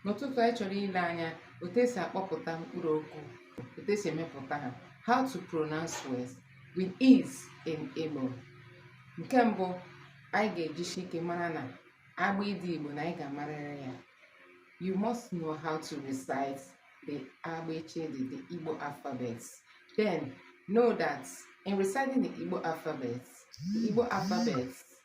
N'ụtụtụ anyị chọrọ ile anya otu esi akpọpụta mkpụrụ okwu, otu esi emepụta ha, how to pronounce words with ease in Igbo. Nke mbụ anyị ga-ejisi ike mara na abịdịị Igbo na anyị ga-amarịrị ya. You must know how to recite the abịchịdị, the Igbo alphabet. Then know that in reciting the Igbo alphabet, the Igbo alphabet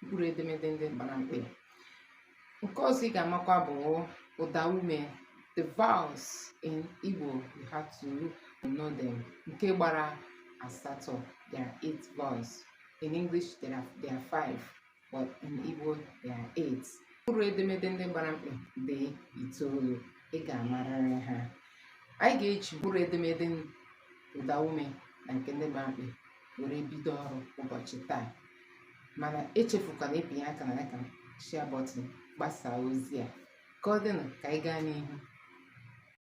mkpụrụ edemede ndị gbara mkpị nke ọzọ ị ga-amakwa bụ ụda ume the vowels in Igbo you have to know them nke gbara asatọ there are eight vowels in English there are, there are five but in Igbo there are eight mkpụrụ edemede ndị gbara mkpị dị itoolu ị ga-amarịrị ha anyị ga-eji mkpụrụ edemede ụda ume na nke ndị gbara mkpị were bido ọrụ ụbọchị taa mana echefukwana ịpịnye aka na like and share button gbasaa ozi a ka ọ dịnụ ka anyị gaa n'ihu